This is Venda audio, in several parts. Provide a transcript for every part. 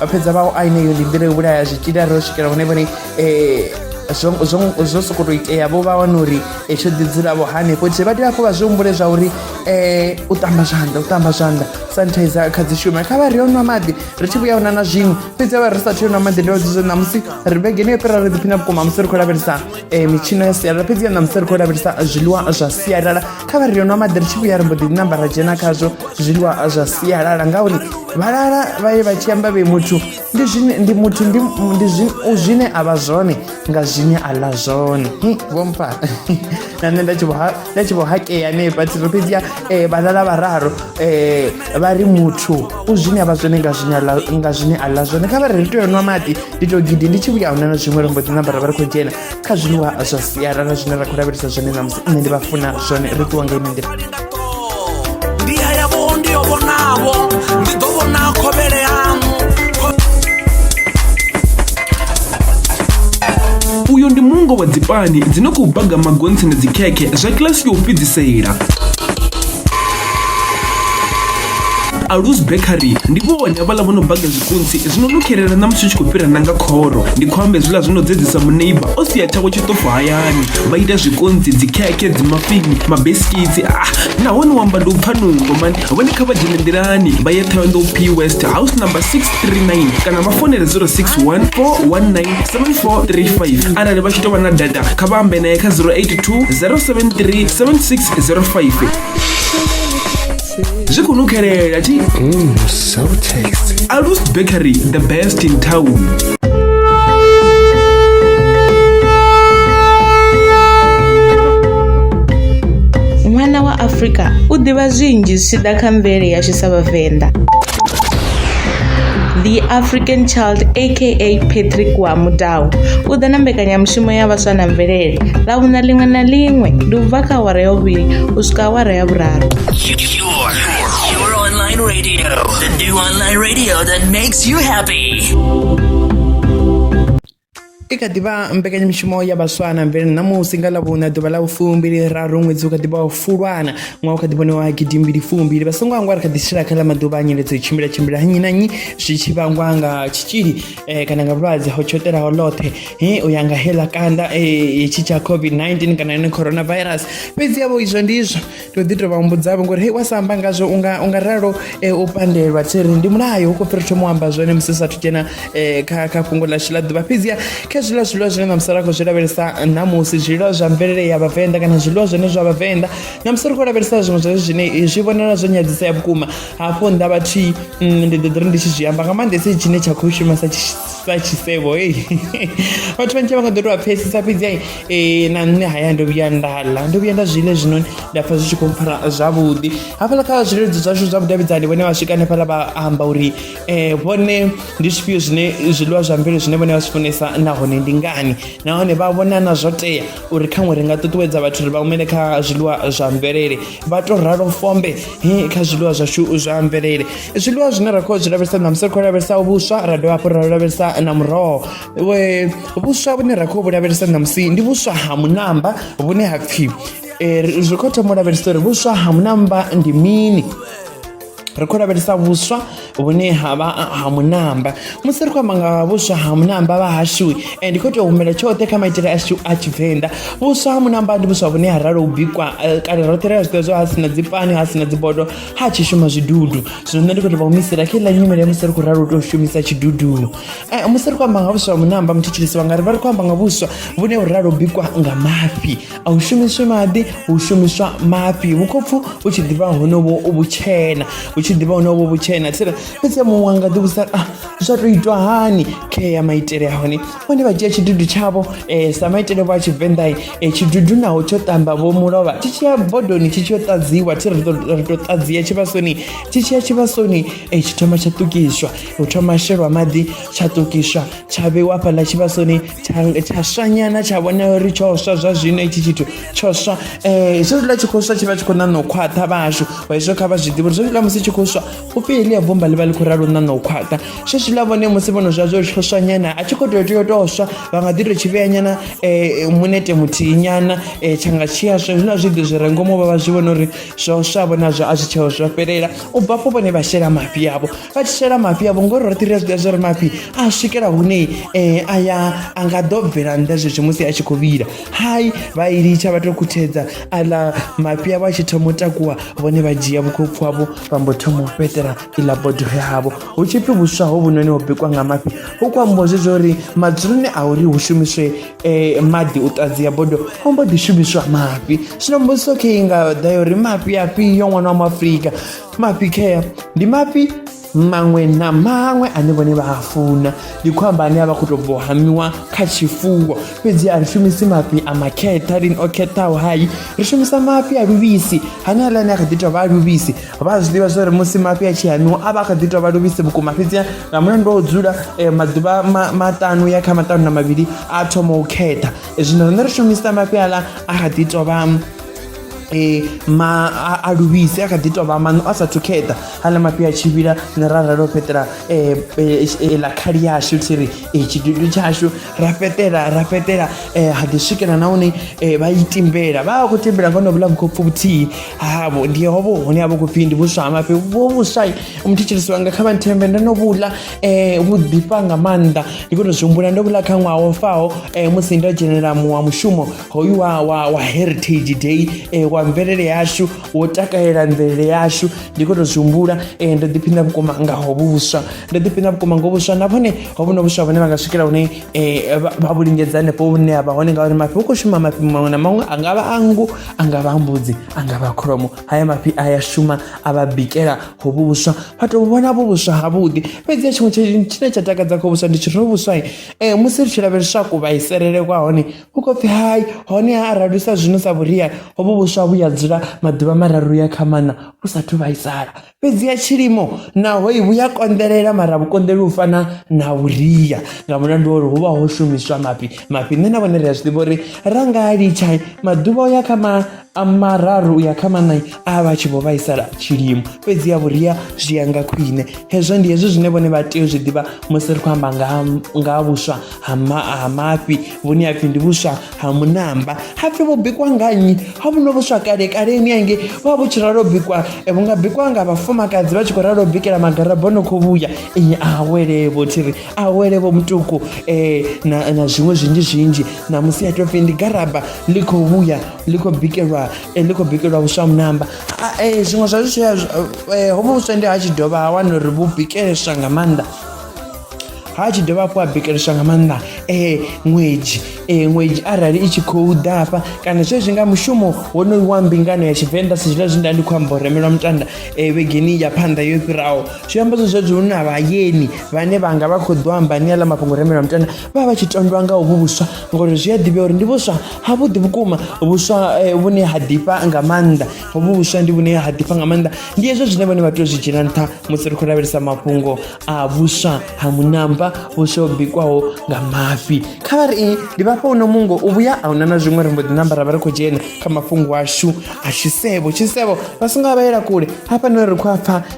vha fhedza vha a ineyo ndi nḓila yo vhulaya zwitzhili a ri o swikela hune vhone um zwo sokou tou itea vho vha wana uri tsho ḓi dzulavo hanefho tshee vha tea hafho vha zwi humbule zwa uri um u ṱamba zwanḓa u ṱamba zwanḓa sanitizer kha dzi shume kha vha ri o nwa maḓi ri tshi vhuya huna na zwiṅwe fhedzi a vha ri sa tea u nwa maḓi ndo dzi zwo ṋamusi ri vhegeni yo fhira ri ḓiphina vhukuma musi ri khou lavhelesa e, mitshino ya sialala fhedzi ya ṋamusi ri khou lavhelesa zwiḽiwa zwa sialala kha vha ri nwa maḓi ri tshi vhuya ri mbo ḓi namba ra dzhena khazwo zwiḽiwa zwa sialala ngauri vhalala vha ye vha tshi amba vhe muthu ndi zwine ndi muthu ndi ndi zwi- zwine a vha zwone nga zwine a ḽa zwone Hi, vho mpfa na nṋe nda tshi vho ha- nda tshi vho hakea hanefha thiro fhedzi ya eh, vhalala vhararu eh, vha ri muthu u zwine a vha zwone nga zwine a ḽa- nga zwine a ḽa zwone kha vha ri ri tea u nwa maḓi ndi to gidi ndi tshi vhuya huna na zwiṅwe lombo ḓi nambara vha ri khou dzhena kha zwiḽiwa zwa sialala zwine ra khou lavhelesa zwone ṋamusi nṋe ndi vha funa zwone ri ṱuwa nga ine nḓila ndi ya yavho ndi yo vhonavho ndi ḓo vhona khovhele yaṋu uyo ndi mungo wa dzipani dzi no khou baga magontsi na dzikhekhe zwa kilasi ya u fhedzisela alus bakery ndi vhone havhaḽa vho no baga zwikunsi zwino no khelela na musi u tshi khou fhira nanga khoro ndi khou amba hezwiḽa zwino dzedzisa muneiba o sia tshawe tshiṱofu hayani vha ita zwikonzi dzikhekhe dzimafini mabesikitsi a ah, nahone u amba ndi u pfa nungo mani vhone kha vha dzhene nḓilani vha ye thondo p west house number 639 kana vha fonele 0614197435 arali vha tshi tou vha na data kha vha ambe naye kha 082 073 7605 zwi khou nukhelela tshi Mm, so tasty. alus bakery the best in town ṅwana wa afrika u ḓivha zwinzhi zwi tshi ḓa kha mvelele yashu sa vhavenḓa the african child aka patrick wa mudau u ḓa na mbekanyamushumo ya vhaswa na mvelele ḽa vhuna ḽiṅwe na ḽiṅwe ndi u bva kha awara ya vhuvhili u swika awara ya vhuraru I kha ḓivha mbekanyamushumo ya vhaswa na mvelele ṋamusi nga ḽavhuna ḓuvha ḽa ufumbili raru ṅwedzi u kha ḓivha wa fulwana ṅwaha u kha ḓivhone wa gidimbili fumbili vha songo angwa ri kha ḓi tshila kha ḽa maḓuvha a nyeledzo i tshimbila tshimbila nnyi na nnyi zwi tshi vhangwa nga tshitzhili um kana nga vhulwadze ho tshoṱelaho ḽoṱhe he u ya nga heḽa kanda um tshi tsha covid-19 kana yone coronavirus fhedzi yavho izwo ndizwo ndo ḓi tovha humbudzavho ngori hei wa sa amba ngazwo unga unga ralo eh, u pandelwa thiri ndi mulayo ukho fhira thoma u amba zwone musi sa thu dzhena eh, kha kha fhungo ḽashu ḽa ḓuvha fhedziha kha zwiḽiwa zwiḽiwa zwine na musala khou zwi lavhelesa ṋamusi zwiḽiwa zwa mvelele ya vhavenḓa kana zwiḽiwa zwone zwa vhavenḓa na musi ri khou lavhelesa zwiṅwe zwezwo zwine eh, zwi vhonala zwo nyadzisea vhukuma hafho nnḓa vhathihi mm, ndi ḓo ḓi ri ndi tshi zwi amba nga maanḓesa tshine tsha khou shuma sa sa tshisevho ei vhathu vhanzhi vha nga ḓo tou vha pfhesesa fhedzi ai eh, na nṋe haya ndo vhuya nda ḽa ndo vhuya nda zwi ḽa zwinoni nda pfha zwi tshi khou mpfara zwavhuḓi hafhaḽa kha zwileludzi zwashu zwa vhudavhidzani vhone vha swika hanefhaḽa vha amba uri um vhone ndi zwifhio zwine zwiḽiwa zwa mvelo zwine vhone vha zwi funesa nahone ndi ngani nahone vha vhona na zwo tea uri khaṅwe ri nga ṱuṱuwedza vhathu uri vha humele kha zwiḽiwa zwa mvelele vha to ralo fombe kha zwiḽiwa zwashu zwa mvelele zwiḽiwa zwine ra khou zwi lavhelesa na musi ri khou lavhelesa vhuswa ra dovha hafhu ra lavhelesa na muroho vhuswa vhune ra khou vhu lavhelesa na musi ndi vhuswa ha munamba vhune ha pfhi eh, zwi khou thoma u lavhelesa uri vhuswa ha munamba ndi mini ri khou lavhelesa vhuswa vhune ha vha ha munamba musi ri khou amba nga vhuswa ha munamba vha hashu eh, ndi khou tea u humela tshoṱhe kha maitele ashu a tshivenḓa vhuswa ha munamba ndi vhuswa vhune ha ralo u bikwa eh, kale roṱhe ri a zwiḓivha zwo ha sina dzipani ha sina dzibodo ha tshi shuma zwidudu zwino nṋe ndi khou tea vha humisela kha iḽa nyimele musi ri khou ralo u tou shumisa tshidudu Eh, musi ri khou amba nga vhuswa ha munamba muthu tshilisiwa nga ri vha ri khou amba nga vhuswa vhune vhu ralo u bikwa nga mafhi a hu shumiswe maḓi hu shumiswa mafhi vhukhopfu u tshi ḓivha honovho vhutshena u tshi ḓivha honovho vhutshena tsire fhedzi muṅwe wanga ḓi vhusa a ah, zwa tou itwa hani khe ya maitele a hone vhone vha dzhia tshidudu tshavho um sa maitele vho a tshivenḓai um eh, tshidudu naho tsho ṱamba vho mulovha tshi tshiya bodoni tshi tshi yo ṱadziwa thi ri tou ṱadzia tshivhasoni tshi tshiya tshivhasoni um tshi thoma tsha ṱukiswa u thoma shelwa maḓi tsha ṱukiswa tsha vheiwa fhaḽa tshivhasoni tsha tsha swanyana tsha vhona uri tsho swa zwa zwino itshi tshithu tsho swa eh zwo zwi tshi khou swa tshi vha tshi khou ṋaṋa u khwaṱha vhashu hezwo kha vha zwi ḓivhe uri zwo zwiḽa musi tshi khou swa u pfi heḽia bomba ḽi vha ḽi khou ralo ṋaṋa u khwaṱha zwo zwiḽa vhone musi vhono zwa zwo tsho swanyana a tshi khou tea tea u tou swa vha nga ḓi tou tshi vhea nyana eh munete muthihi nyana eh tsha nga tshi aswa hezwiḽa zwiḓi zwi re ngomu vha vha zwi vhona uri zwo swa vhona zwo a zwi tsheo zwo fhelela u bva afho vhone vha shela mafhi avho vha tshi shela mafhi avho ngori roṱhe ri a zwiḓivha zwori mafhi a swikela hune um a ya a nga ḓo bvela nnḓa zwezwi musi a tshi khou vhila hai vha i litsha vha to khuthedza aḽa mafhi avho a tshi thoma u takuwa vhone vha dzhia vhukhopfu havho vha mbo thoma u fhetela iḽa bodo yavho hu tshi pfhi vhuswa ho vhunoni ho bikwa nga mafhi hu khou ambiwa zwezwo uri madzuloni a uri hu shumiswe um maḓi u ṱadzia bodo ho mbo ḓi shumiswa mafhi zwino mbudziso khe i nga ḓa ya uri mafhi afhio ṅwana wa muafurika mafhi care ndi mafhi maṅwe na maṅwe ane vhone vha a funa ndi khou amba ane a vha khou tou bvo hamiwa kha tshifuwo fhedzi a ri shumisi mafhi a makhetha lini o khethaho hai ri shumisa mafhi a luvhisi hane aḽa ane a kha ḓi tou vha a luvhisi vha a zwi ḓivha zwa uri musi mafhi a tshi hamiwa a vha a kha ḓi tou vha luvhisi vhukuma fhedzi nga mulandu wa u dzula eh, maḓuvha ma- maṱanu ya kha maṱanu na mavhili a thoma u khetha Eh, zwino riṋe ri shumisa mafhi aḽa a kha ḓi tou vha um ma a luvhise a kha ḓi tou vha maṋo a sathu kheṱa aḽa mafhi a tshi vhila ne ra ralo fhetela ḽa khali yashu thi ri tshidudu tshashu ra fhetela ra fhetela ha ḓi swikela na hune vha i timbela vha vha khou timbela nga honovhuḽa vhukhopfu vhuthihi havho ndi hovho hune ha vha khou pfhi ndi vhuswa ha mafhi vho vhuswa muthu tshilisiwa nga kha vhanthembe ndo no vhuḽa vhu ḓifha nga maanḓa ndi khou tou zwi humbula ndo vhuḽa kha ṅwaha wo faho musi ndo dzhenelela muṅwe wa mushumo hoyu wa, wa, wa heritage day e, wa mvelele yashu wo takalela mvelele yashu ndi khou tou zwi humbula e, ndo ḓiphina vhukuma nga hovhu vhuswa ndo ḓiphina vhukuma ngo vhuswa na vhone hovhu no vhuswa vhone vha nga swikela hune e, vha vhu lingedza hanefho hune ha vha hone ngauri mafhi hu khou shuma mafhi maṅwe na maṅwe a nga vha a nngu a nga vha a mbudzi a nga vha kholomo haya mafhi a ya shuma a vha bikela hovhu vhuswa vha tou vhona vhu vhuswa havhuḓi fhedzi ya tshiṅwe tshine tsha takadza kho vhuswa ndi tshi ro vhuswa e, musi ri tshi lavheleswa kuvhaiselele kwa hone U khou pfi, Hai, honeha arali u sa zwi nwisa vhuria, hovhu vhuswa vhu ya dzula maḓuvha mararu u ya kha maṋa vhu sa athu vhaisala. Fhedziha tshilimo naho vhu ya konḓelela mara a vhu konḓeli u fana na vhuria nga mulandu wa uri hu vha ho shumiswa mafhi. Mafhi nṋe na vhone ri a zwi ḓivha uri ra nga a litsha maḓuvha o ya kha ma. a mararu u ya kha maṋa a vha tshi vho vhaisala tshilimo fhedzi ya vhuria zwi ya nga khwine hezwo ndi hezwi zwine vhone vha tea u zwi ḓivha musi ri khou amba nga ha vhuswa ha mafhi vhune ha pfhi ndi vhuswa ha munamba ha pfhi vho bikwa nga nnyi ha vhuno vhuswa kale kaleni ange vha vhu tshi ralo bikwa e, vhu nga bikwa nga vhafumakadzi vha tshi khou ralo bikela magaraboni khou vhuya a awele vho thiri awele vho mutuku um eh, na, na zwiṅwe zwinzhi zwinzhi ṋamusi ya topfi ndi garaba ḽi khou vhuya ḽi khou bikelwa eh, ḽi khou bikelwa vhuswa munamba ah, eh, zwiṅwe zwa zwitshia hovho vhuswa ndi ha tshi dovha ha wana uri vhu bikeleswa nga maanḓa ha tshi dovha hafhu a bikeleswa nga maanḓa um ṅwedzi um ṅwedzi arali i tshi khou ḓa hafha kana zwezwi nga mushumo wonoyu wa mbingano ya tshivenḓa sa zwiḽa zwi nda ndi khou amba u remelwa mutanda um vhegeni ya phanḓa yo fhiraho zwi amba zwo zwezwo hu na vhayeni vhane vha nga vha khou ḓo amba ni aḽa mafhungo remelwa mutanda vha vha vha tshi tondwa nga uvhu vhuswa ngori zwi a ḓivhea uri ndi vhuswa havhuḓi vhukuma vhuswa eh, vhune ha ḓifha nga maanḓa hovhu vhuswa ndi vhune ha ḓifha nga maanḓa ndi hezwo zwine vhone vha tea u zwi dzhiela nṱha musi ri khou lavhelesa mafhungo a vhuswa ha munamba vhuswa ho bikwaho nga mafhi kha vha ri i ndi vhafha uno mungo u vhuya a huna na zwiṅwe ri mbo ḓi namba ra vha ri khou dzhena kha mafhungo ashu a tshisevho tshisevho vha songo vha vhaela kule hafha no ri khou a pfha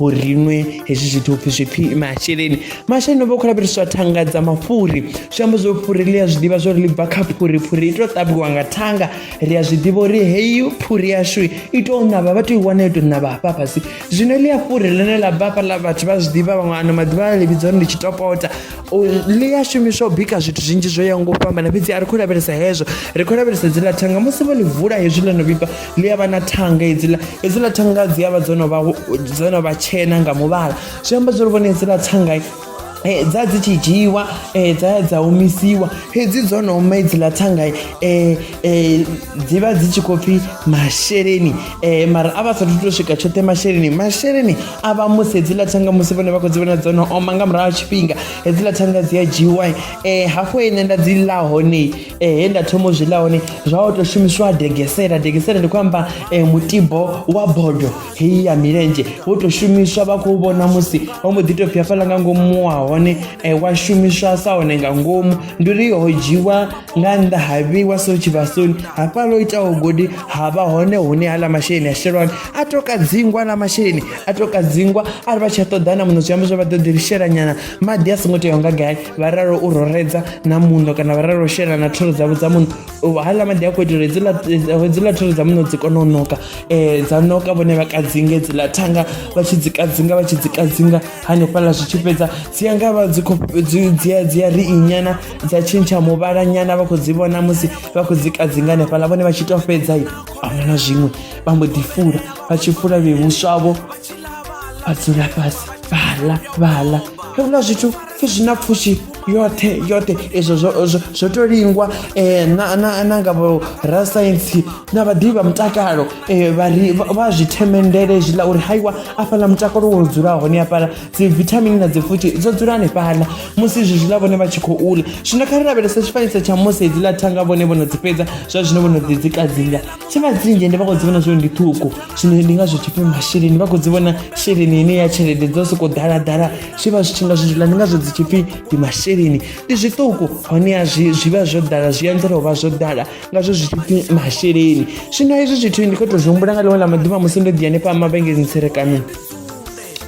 uri ri nwe hezwi zwithu upfhi zwi pfhi masheleni masheleni o vha khou lavheleswa thanga dza mafhuri zwi amba zwo phuri ḽi a zwi ḓivha zwo ri ḽi bva kha phuri phuri i tou ṱavhiwa nga thanga ri a zwi ḓivha uri heyi phuri yashu i tou ṋavha vha tou i wana i tou ṋavha hafha fhasi zwino ḽi a phuri ḽine ḽa bva hafhaḽa vhathu vha zwi ḓivha vhaṅwe ano maḓuvha a ḽi vhidza uri ndi tshitopota ḽi a shumiswa u bika zwithu zwinzhi zwo yaho nga u fhambana fhedzi a ri khou lavhelesa hezwo ri khou lavhelesa dziḽa thanga musi vho ḽi vula hezwi ḽo no vhibva ḽi a vha na thanga hedziḽa hedziḽa thanga dzi a vha dzo no vha dzo no vha tshena nga muvhala zwi amba zwo ri vhone hedziḽa thanga Eh, dza dzi tshi dzhiiwa eh, dza ya dza omisiwa hedzi dzo no oma edzi ḽa thanga eh, dzi vha dzi tshi khou pfhi masheleni mara a vha sathu to swika tshoṱhe masheleni masheleni a vha musi hedzi ḽa thanga musi vhone vha khou dzi vhona dzo no oma nga murahu ha tshifhinga hedzi ḽa thanga dzi a dzhiiwa hafho ine nda dzi ḽa hone ehe nda thoma u zwi ḽa hone zwa o tou shumisiwa degesela degesela ndi khou amba um mutibo wa bodo heyi ya milenzhe wo tou shumiswa vha khou vhona musi wa mbo ḓi tou pfhi fhala nga ngomu wa hone um wa shumiswa sa hone nga ngomu ndi uri ho dzhiwa nga nnḓa ha vheiwa so tshivhasoni hafha lo itaho godi ha vha hone hune haḽa masheleni a shelwani a tou kadzingwa na masheleni a tou kadzingwa a ri vha tshi a ṱoḓana muno zwi amba zwa vha ḓo ḓi lishelanyana maḓi a songo teaho nga gai vha ralo u roredza na muṋo kana vha ralo u shela na thoro dzavho dza muṋo haḽa maḓi a khou itela hedziḽa thoro dza muṋo dzi kone u noka um dza noka vhone vha kadzinge dziḽa thanga vha tshi dzi kadzinga vha tshi dzi kadzinga hanefhaḽa zwi tshi fhedza dzi ya nga vha dzi khou dzi ya ri inyana dza tshintsha muvhala nyana vha khou dzi vhona musi vha khou dzi kadzinga hanefhaḽa vhone vha tshi tou fhedza i ahuna na zwiṅwe vha mbo ḓi fula vha tshi fula vhevhuswavho a dzula fhasi vhala vhala heuḽa zwithu pfhi zwi na pfushi yoṱhe yoṱhe izwo zwo to lingwa um na nga vho rasaintsi na vhaḓivhi vha mutakalo um vhari vha zwi themendele zwiḽa uri haiwa afhaḽa mutakalo wo dzula hone afhaḽa dzi vithamini na dzi pfushi dzo dzula hanefhaḽa musi izwi zwiḽa vhone vha tshi khou ula zwino kha ri lavhelesa tshifanyiso tsha musi hedziḽa thanga vhone vho no dzi fhedza zwa zwino vho no ḓi dzi kadzinga tshifhinga dzinzhi ndi vha khou dzi vhona zwori ndi ṱhukhu zwino ndi ngazwo tshipfi masheleni vha khou dzi vhona sheleni ine ya tshelede dzo sokou ḓalaḓala zwi vha zwi tshi nga zwidzula ndi ngazwo dzi tshipfi ndi masheleni ndi zwiṱuku honeha zwi zwi vha zwo ḓala zwi anzela u vha zwo ḓala ngazwo zwi tshipfi masheleni zwino hezwi zwithu ndi khou tou zwi humbula nga ḽiṅwe ḽa maḓuvha musi ndo ḓi hanefha mavhengeleni tserekano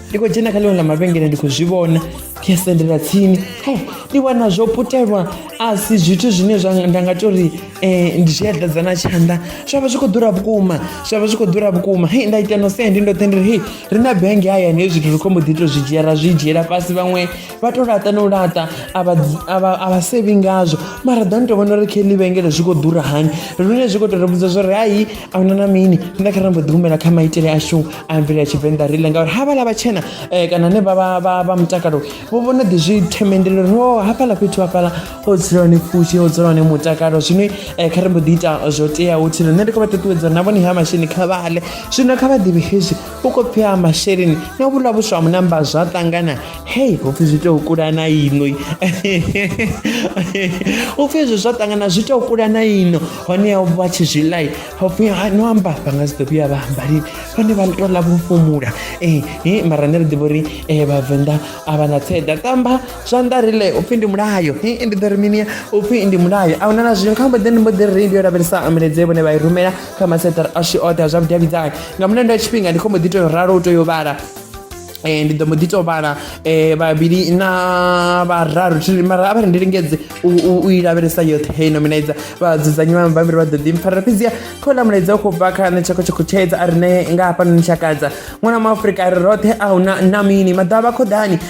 ndi khou dzhena kha ḽiṅwe ḽa mavhengele ndi khou zwi vhona ndi a sendela tsini he ndi wana zwo putelwa a si zwithu zwine zwa nda nga tou ri Eh, ndi tshi eḓedza na tshanḓa zwa vha zwi khou ḓura vhukuma zwa vha zwi khou ḓura vhukuma hei nda ita no sendi ndo tendela hei ri na benge hayani hei zwithu ri khombo ḓi to zwi dzhia ra zwi dzhiela fhasi vhaṅwe vha to laṱa no laṱa a vha dzi- a vha- a vha sevi ngazwo mara ḓani to vhona uri khe ḽi vhengele zwi khou ḓura hani lune zwi khou to ri vhudza zwa uri hai a huna na mini nda kha ra mbo ḓi humela kha maitele ashu a mvele ya tshivenḓa rile ngauri havhala vhatshena um kana ne vha- vha vha- vha mutakalo vho vho no ḓi zwi themendela uri o hafhaḽa fhethu hafhaḽa o dzula hone pfushi o dzula hone mutakalo zwine eh, kha ri mbo ḓi ita zwo teaho thilo nṋe ndi khou vha ṱuṱuwedza na vhone ha masheleni kha vhale zwino kha vha ḓivhe hezwi u khou pfhi ha masheleni na vhulwa vhuswa ha munamba zwa ṱangana hei ho pfhi zwi tou kula na ino u pfhi hezwo zwa ṱangana zwi tou kula na ino hone ya vha tshi zwi lai ho pfhi no amba vha nga si ḓo vhuya vha amba lini vhone vha tou ḽa vhofhumula ee eh, eh, mara nṋe ri ḓivha uri vhavenḓa a vha na tseḓa tamba zwanḓa ri le upfhi ndi mulayo hii ndi ḓo ri mini upfhi ndi mulayo a huna na zwino kha mbo ḓi ndi mbo ḓi ri ndi yo lavhelesa ambuledze vhone vha i rumela kha maseṱara ashu oṱhe a zwa vhudavhidzani nga mulandu wa tshifhinga ndi khombo ḓi to ralo u to yo vhala Eh, ndi ḓo mbo ḓi to vhala eh, vhavhili na vhararu thiri mara a vha ri ndi lingedze u- u u i lavhelesa yoṱhe hei nominaiza vhadzudzanyi vha mabambiri vha ḓo ḓi mpfarela fhedziha kha uḽa mulaedza u khou bva kha nṋe tshakho tshakho tshedza a rine nga hafhanoni tshakadza ṅwana wa maafurika a ri roṱhe a huna na mini maḓuvha vha khoḓani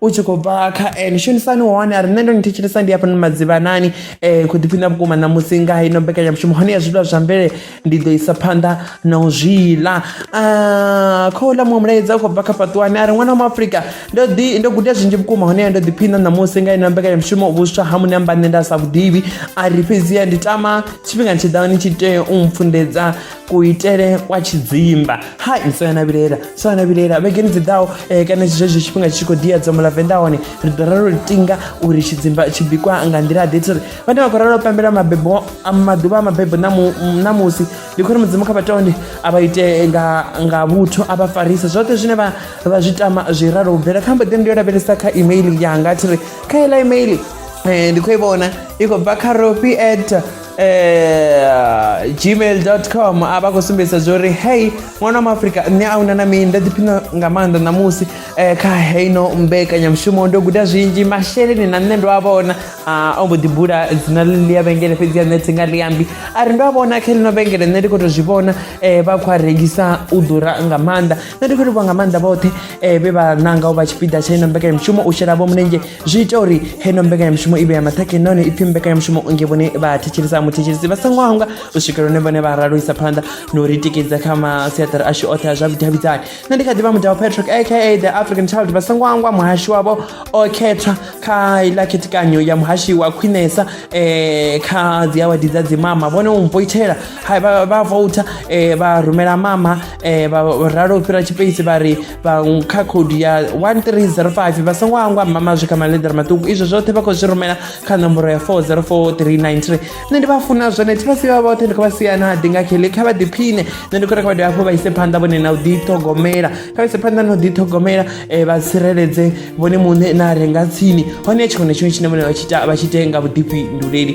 u tshi khou bva kha ene shumisani hone a ri nṋe ndo ni thetshelesa ndi hafhanoni madzivhanani um khou ḓiphiṋa vhukuma ṋamusi nga ino mbekanyamushumo hone ya zwiḽiwa zwa mvelele ndi ḓo isa phanḓa na u zwi ḽa Ah, kha uḽa muṅwe mulaedza u khou bva kha fhaṱuwani a ri ṅwana wa muafrika ndo ḓi ndo guda zwinzhi vhukuma honeha ndo ḓiphiṋa ṋamusi nga ino mbekanyamushumo vhuswa ha muṋe amba nṋe nda sa vhuḓivhi a ri fhedziha ndi tama tshifhingani tshiḓaho ni tshi tea u mpfundedza kuitele kwa tshidzimba hai so yana vhilela so yana vhilela vhegeni dzi ḓaho um kana zwezwo tshifhinga tshi tshi khou ḓiya dzomo ḽa venḓa hone ri ḓo ralo tinga uri tshidzimba tshi bikwa nga nḓila ḓe tsiri vhane vha khou ralo pembela mabebo maḓuvha a mabebo ṋamusi ndi khou ri mudzimu kha vhatonde a vha ite nga vhuthu a vha farise zwoṱhe zwine vha zwi tama zwi ralo u bvela kha mbo ḓi ndi yo lavhelesa kha email yanga thiri kha ela email um ndi khou i vhona i khou bva kha ropi at eh, gmail com a vha khou sumbedzisa zwo uri hei ṅwana wa maafrika nṋe a una na mini nda ḓiphina nga maanḓa ṋamusi um kha heino mbekanyamushumo ndo guda zwinzhi masheleni na nṋe ndo a vhona ah, o mbo ḓi bula dzina ḽi ya vhengele fhedzi ya nṋe thi nga ḽiambi a ri ndo a vhona kha ḽino vhengele nṋe ndi khou to zwi vhona um vha khou a rengisa u ḓura nga maanḓa nṋe ndi khou livhuwa nga maanḓa vhoṱhe um vhe vha nanga u vha tshipiḓa tsha ino mbekanyamushumo u shela vho mulenzhe zwi ita uri heno mbekanyamushumo i vhe ya maṱhakheni nahone ipfhi mbekanyamushumo nge vhone vha thetshelesa muthetshelesi vha songo hangwa u swikela hune vhone vha ralo isa phanḓa na u ri tikedza kha masiaṱari ashu oṱhe a zwa vhudavhidzani nṋe ndi kha ḓivha mudao patrick aka the african child vha songo hangwa muhashi wavho o khethwa kha iḽa khethekanyo ya muhashi wa khwinesa um kha dzi awadi dza dzimama vhone u mpoithela vha vouta um vha rumela mama um vha ralo u fhira tshipeisi vha ri vhaṅwe kha khoudu ya 1305 vha songo hangwa mama zwi kha maḽeḓere maṱuku izwo zwoṱhe vha khou zwi rumela kha nomboro ya 404393 nṋe ndi vha funa zwone thi vha si vha vhoṱhe ndi khou vha siyana ha dinga khele kha vha ḓiphine nṋe ndi khou rekha vha dovha hafhu vha ise phanḓa vhone na u ḓiṱhogomela kha vha ise phanḓa na u ḓiṱhogomela um vha tsireledze vhone muṋe na renga tsini hone tshiṅwe na tshiṅwe tshine vhone vha tshi ita vha tshi ite nga vhuḓifhinduleli